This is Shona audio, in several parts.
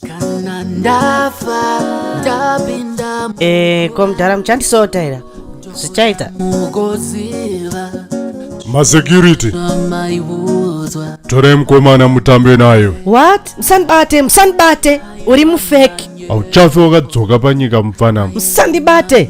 kana ndafa ndapinda Eh, ko mdhara muchandisota here zvichaita mugoziva masecurity amaiudzwa torai mukomana mutambe nayo what musandibate musandibate uri mufeki hauchafe wakadzoka panyika mupfanama musandibate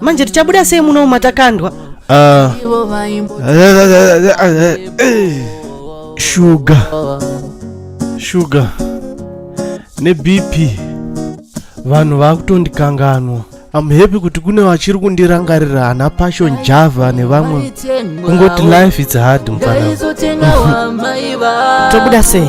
manje tichabuda sei muno matakandwa ah. shuga shuga nebp vanhu vakutondikanganwa am happy kuti kune vachiri kundirangarira ana passion java nevamwe kungoti life its hard mfana tobuda sei